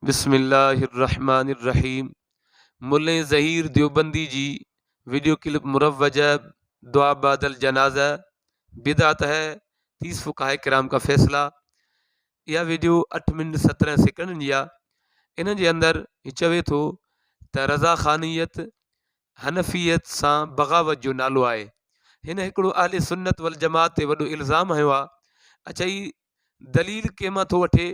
بسم الله الرحمٰن الرحيم ملين ظهير ديوبندي جي ويڊيو ڪلپ مروجه دعا بعد الجنازه بدعت هي تيس فقهاء ڪرام ڪا فيصلا اها ويڊيو اٺ منٽ سترهن سيڪنڊن جي آهي ان جي اندر هي چوي ٿو ته رضا خانيت حنفيت سان بغاوت جو نالو آهي هن هڪڙو اهل سنت والجماعت تي وڏو الزام هنيو آهي اچائي دليل ڪنهن مان ٿو وٺي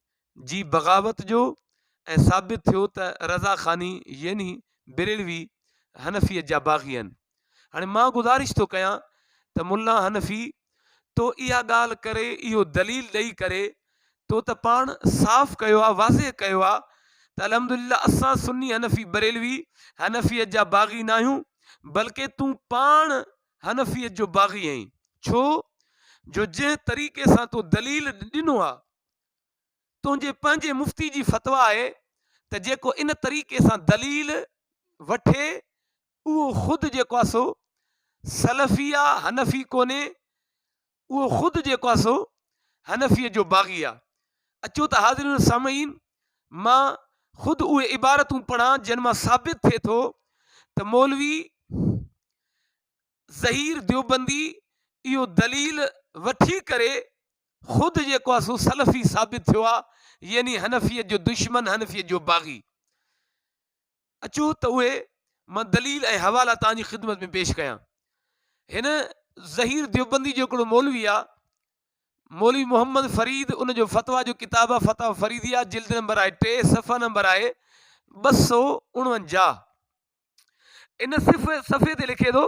جي بغاوت جو ۽ ثابت ٿيو ته رضا خاني يعني بريلوي حنفيت جا باغي آهن هاڻي مان گذارش ٿو ڪيان ته ملا حنفي تو اها ڳالهه ڪري اهو دليل ڏئي ڪري تو ته پاڻ صاف ڪيو آ واضح ڪيو آ ته الحمد لله اسان سني حنفي بريلوي حنفيت جا باغي نه آهيون بلڪه تون پاڻ حنفيت جو باغي آهين ڇو جو جنهن طريقي سان تو دليل ڏنو آ تنهنجي پنهنجي مفتي جي فتويٰ آهي ته جيڪو ان طريقي سان دليل وٺي اهو خود جيڪو آهي سو سلفي آ حنفي ڪونهي اهو خود جيڪو آهي سو حنفيء جو باغي آ اچو ته حاضرين سامعين مان خود اهي عبارتون پڙهان جن مان ثابت ٿئي ٿو ته مولوي ظهير ديوبندي اهو دليل وٺي ڪري خود جيڪو آهي سو سلفي ثابت ٿيو آهي يعني حنفيت جو دشمن حنفيت جو باغي اچو ته اهي مان دليل ۽ حوالا تان جي خدمت ۾ پيش ڪيان هن ظهير ديوبندي جو هڪڙو مولوي آ مولوي محمد فريد ان جو فتوا جو ڪتاب آ فتوا فريدي آ جلد نمبر آهي ٽي صفحه نمبر آهي ٻه سو اڻونجاهه ان صفحي تي لکي ٿو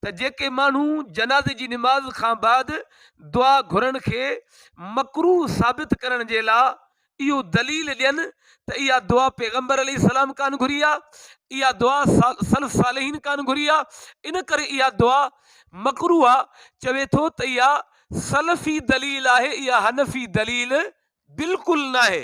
ته جيڪي ماڻهو جنازي جي نماز کان بعد دعا گهرڻ کي مڪروه ثابت ڪرڻ جي لا اهو دليل ڏين ته اها دعا پيغمبر عليه السلام ڪان گهري آهي اها دعا سلف صالحين ڪان گهري آهي ان ڪري اها دعا مڪروه آهي چوي ٿو ته اها سلفي دليل آهي اها حنفي دليل بلڪل ناهي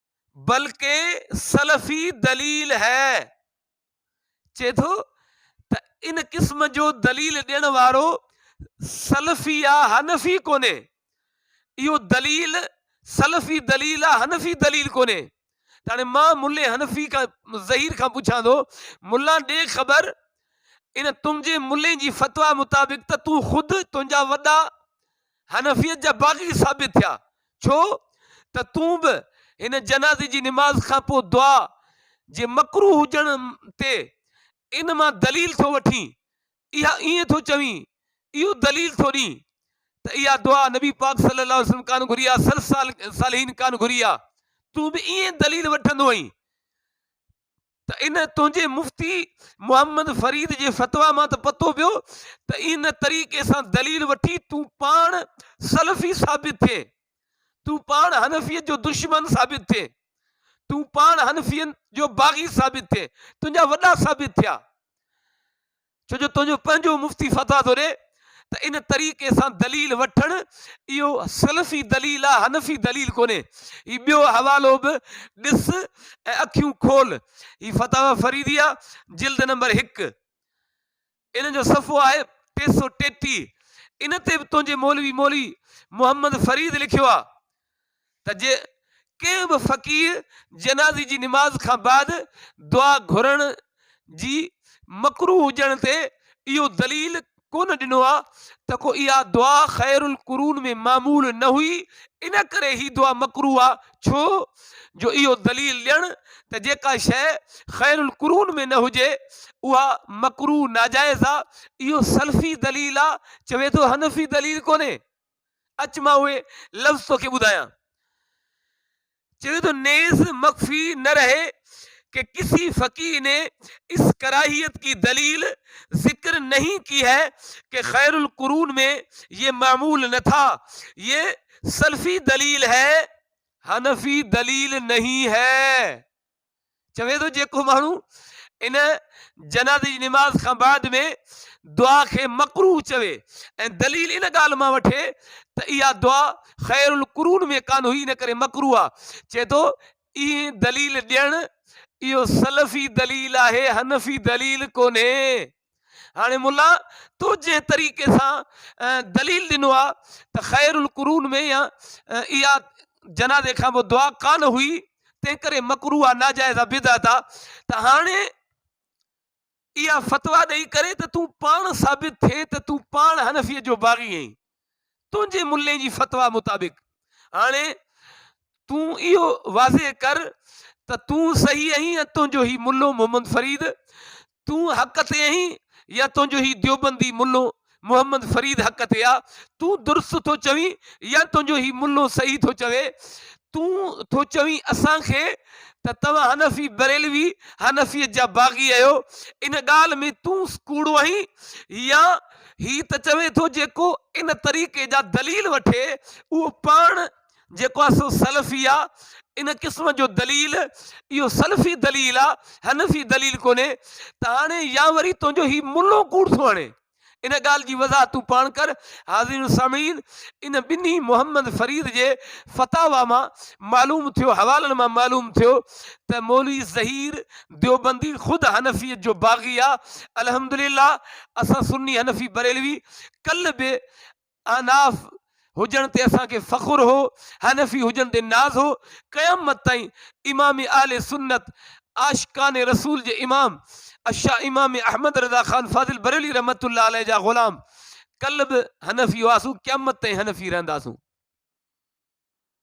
بلڪه سلفي دليل هي. چئي ٿو ته ان قسم جو دليل ڏيڻ وارو سلفي يا حنفي ڪونهي. اهو دليل سلفي دليل آ حنفي دليل ڪونهي. ته هاڻي مان ملي حنفي کان ظهير کان پڇان ٿو ملا ڏي خبر ان تنهنجي ملي جي فتويٰ مطابق ته تون خود تنهنجا وڏا حنفيت جا باغي ثابت ٿيا، ڇو ته تون به هن جنازي جي نماز کان پوء دعا جي مڪروه هجڻ تي ان مان دليل ٿو وٺين، اها ائين ٿو چوين، اهو دليل ٿو ڏين ته اها دعا نبي پاڪ صلّي اللّٰه عليه وسلّم ڪانه گهري آ، سلف صالحين ڪانه گهري آ، تون به ائين دليل وٺندو هئين ته ان تنهنجي مفتي محمد فريد جي فتويٰ مان ته پتو پيو ته ان طريقي سان دليل وٺي تون پاڻ سلفي ثابت ٿئين، تون پاڻ حنفيت جو دشمن ثابت ٿئين، تون پاڻ حنفين جو باغي ثابت ٿئين، تنهنجا وڏا ثابت ٿيا. ڇو جو تنهنجو پنهنجو مفتي فتويٰ ٿو ڏي ته ان طريقي سان دليل وٺڻ اهو سلفي دليل آهي حنفي دليل ڪونهي هي ٻيو حوالو به ڏس ۽ اکيون کول هي فتاويٰ فريديه جلد نمبر هڪ ان جو صفحو آهي ٽي سو ٽيٽيهه ان تي به تنهنجي مولوي مولوي محمد فريد لکيو آهي ته جي ڪنهن به فقير جنازي جي نماز کان بعد دعا گهرڻ جي مڪروه هجڻ تي اهو دليل ڪونه ڏنو آ ته ڪو اها دعا خير القرون ۾ معمول نه هئي ان ڪري هي دعا مڪروه آ ڇو جو اهو دليل ڏيڻ ته جيڪا شيء خير القرون ۾ نه هجي اها مڪروه ناجائز آ اهو سلفي دليل آ چوي ٿو حنفي دليل ڪونهي. اچ مان اهي لفظ توکي ٻڌايان. چوي ٿو نيز مخفي نه رهي ڪه ڪسي فقيه ني اس ڪراهيت ڪي دليل ذڪر نهين ڪي هي ڪه خير القرون مين يه معمول نه ٿا يه سلفي دليل هي حنفي دليل نهين هي. چوي ٿو جيڪو ماڻهو ان جنازي جي نماز کان بعد ۾ دعا کي مڪروه چوي ۽ دليل ان ڳالهه مان وٺي ته اها دعا خير القرون ۾ ڪانه هئي ان ڪري مڪروه آ چئي ٿو اي دليل ڏيڻ اهو سلفي دليل آهي حنفي دليل ڪونهي. هاڻي ملا تو جنهن طريقي سان دليل ڏنو آ ته خير القرون ۾ يا اها جنازي کان پوء دعا ڪانه هئي تنهن ڪري مڪروه آ ناجائز آ بدعت آ ته هاڻي اها فتويٰ ڏئي ڪري ته تون پاڻ ثابت ٿئي ته تون پاڻ حنفيء جو باغي آهين تنهنجي ملي جي فتويٰ مطابق هاڻي تون اهو واضح ڪر ته تون صحيح آهين يا تنهنجو هي ملو محمد فريد تون حق تي آهين يا تنهنجو هي ديوبندي ملو محمد فريد حق تي آ تون درست ٿو چوين يا تنهنجو هي ملو صحيح ٿو چوي تون ٿو چوين اسان کي ته توهان حنفي بريلوي حنفيت جا باغي آهيو ان ڳالهه ۾ تون ڪوڙو آهين يا هي ته چوي ٿو جيڪو ان طريقي جا دليل وٺي اهو پاڻ جيڪو آهي سو سلفي آهي ان قسم جو دليل اهو سلفي دليل آهي حنفي دليل ڪونهي ته هاڻي يا وري تنهنجو هي ملو ڪوڙ ٿو هڻي ان ڳالهه جي وضاحت تون پاڻ ڪر حاضرين سامعين ان ٻنهي محمد فريد جي فتاوا مان معلوم ٿيو حوالن مان معلوم ٿيو ته مولوي ظهير ديوبندي خود حنفيت جو باغي آهي الحمدلله اسان سني حنفي بريلوي ڪل به احناف هجڻ تي اسان کي فخر هو حنفي هجڻ تي ناز هو قيامت تائين امام اهل سنت عاشقان رسول جي امام الشا امام احمد رضا خان فاضل بريلوي رحمت الله عليه جا غلام ڪل به حنفي هئاسون قيامت تائين حنفي رهنداسون.